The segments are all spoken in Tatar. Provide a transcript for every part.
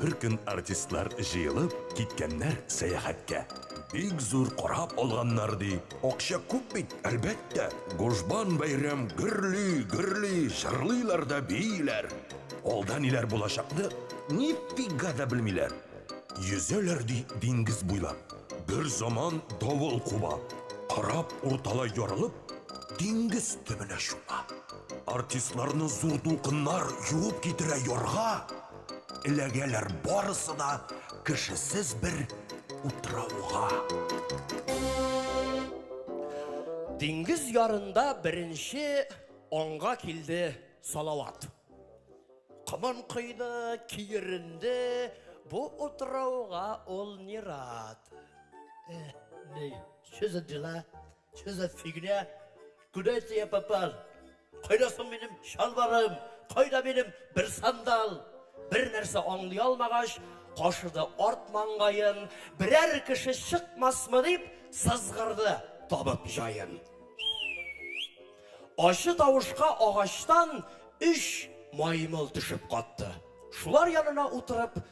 Бер көн артистлар җыелып киткәннәр сәяхәткә. Бик зур кораб алганнар, ди. Акча күп бит, әлбәттә. Гужбан бәйрәм гөрли, гөрли, җырлыйлар да бииләр. Алда ниләр булачакны нифига да белмиләр. Йөзәләр, ди, диңгез буйлап. Берзаман давыл куба. Кораб урталай ярылып, диңгез төбенә чума. Артистларны зур дулкыннар юып китерә ярга, Эләгәләр барысы да кешесез бер утрауга. Диңгез ярында беренче аңга килде Салават. Комын койды, киеренде, бу утрауга ул ни рад. Эх, ни, что за дела? Что за фигня? Куда это я попал? Кайда соң минем чалбарым? Кайда минем бер сандал? Бер нәрсә аңлый алмагач, кашыды арт маңгаен, берәр кеше чыкмасмы дип сызгырды табып җаен. Ачы тавышка агачтан өч маймыл төшеп катты. Шулар янына утырып,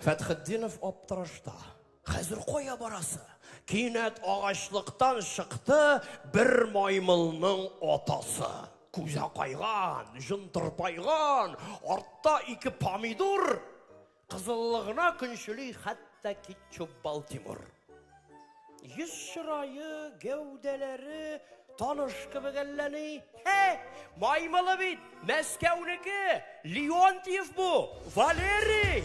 Фәтхетдинов аптырашта. Хәзер кая барасы? Кинәт агачлыктан чыкты бер маймылның атасы. Күзә кайган, җын тырпайган, артта ике помидор. Кызыллыгына көнчели хәтта Китчуп Балтимор. Йөз чырае, гәүдәләре таныш кебек әлләни. Хе, маймылы бит, Мәскәүнеке, Леонтьев бу, Валерий!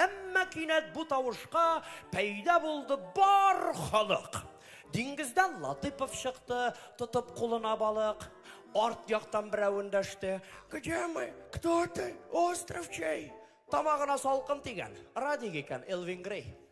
Әмма кинәт бу тавышка пәйда булды бар халык. Диңгездән Латыпов чыкты, тотып кулына балык. Арт яктан берәү эндәште. Где мы? Кто ты? Остров чей? Тамагына салкын тигән. Радик икән, Элвин Грей.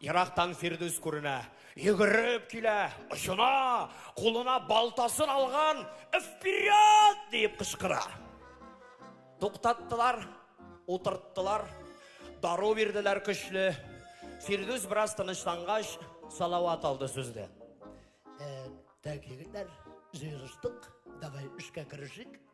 Ерактан Фирдүс күренә. Йөгереп килә, очына, кулына балтасын алган, Вперед! диеп кычкыра. Туктаттылар, утырттылар, дару бирделәр көчле. Фирдүс бераз тынычлангач, Салават алды сүзне. Ә, так, егетләр, җыелыштык, давай эшкә керешик.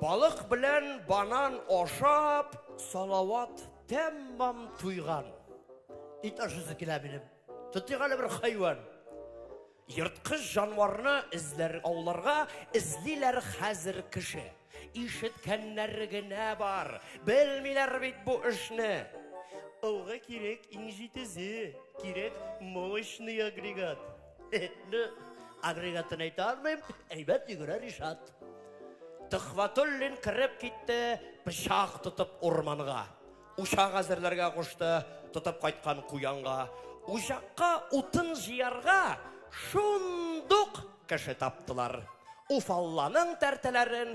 Балык белән банан ашап, Салават тәммам туйган. Ит ашысы килә минем. Тотыйк әле бер хайван. Ерткыч җанварны эзләр ауларга эзлиләр хәзер кеше. Ишеткәннәр генә бар, белмиләр бит бу эшне. Ылгы кирәк иң җитезе, кирәк мощный агрегат. Инде агрегатын әйтә алмыйм, әйбәт йөгерә Ришат. Төхватуллин кереп китте, пычак тотып урманга. Учак әзерләргә кушты, тотып кайткан куянга. Учакка утын җыярга шундук кеше таптылар. Уфалланың тәртәләрен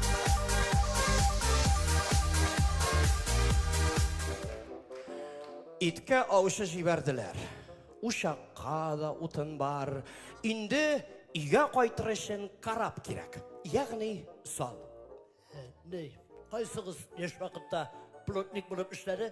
Иткә аучы җибәрделәр. Учакка да утын бар. Инде өйгә кайтыр өчен карап кирәк. Ягъни сал. Ни, кайсыгыз яшь вакытта плотник булып эшләде?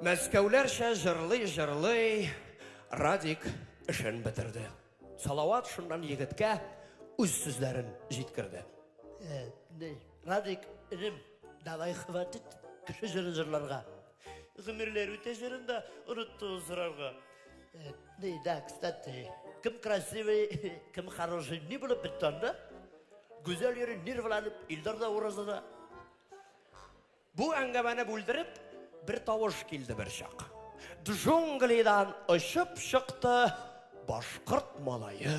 Мәскәүләрчә җырлый-җырлый Радик эшен бетерде. Салават шуннан егеткә үз сүзләрен җиткерде. Радик, энем, давай хватит кеше җыры җырларга. Гомерләр үтә җырында онытты сорарга. Э, не, да, кстати, кем красивый, кем хороший, не булып бетте анда. Гүзәл йөри нервланып, Илдар да уразада. Бу әңгәмәне бүлдереп, бер тавыш килде бер чак. Джунглидан очып чыкты башкорт малае.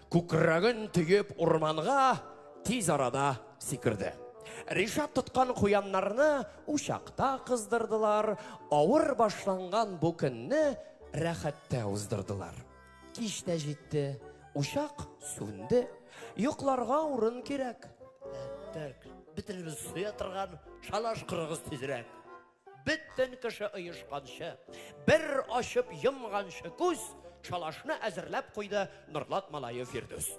Күкрәген төеп урманга тиз арада сикерде. Ришат тоткан куяннарны учакта кыздырдылар, авыр башланган бу көнне рәхәттә уздырдылар. Кич тә җитте, учак сүнде, йокларга урын кирәк. Әттәк, бөтенебез суя торган шалаш корыгыз тизрәк. Бөтен кеше оешканчы, бер ачып йомганчы күз, шалашны әзерләп куйды Норлат малае Фирдүс.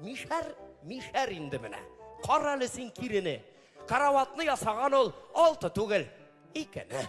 Мишәр, мишәр инде менә. Кара әле син кирене. Караватны ясаган ул алты түгел, икене.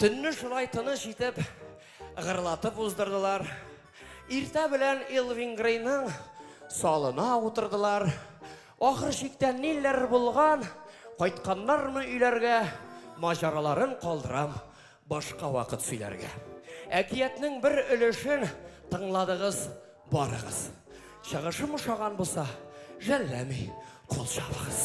Төнне шулай тыныч итеп, гырлатып уздырдылар. Иртә белән Элвин Грейның салына утырдылар. Ахыр чиктә ниләр булган, кайтканнармы өйләргә, маҗараларын калдырам. Башка вакыт сөйләргә. Әкиятнең бер өлешен тыңладыгыз барыгыз. Чыгышым ошаган булса, жәлләми кул чабыгыз.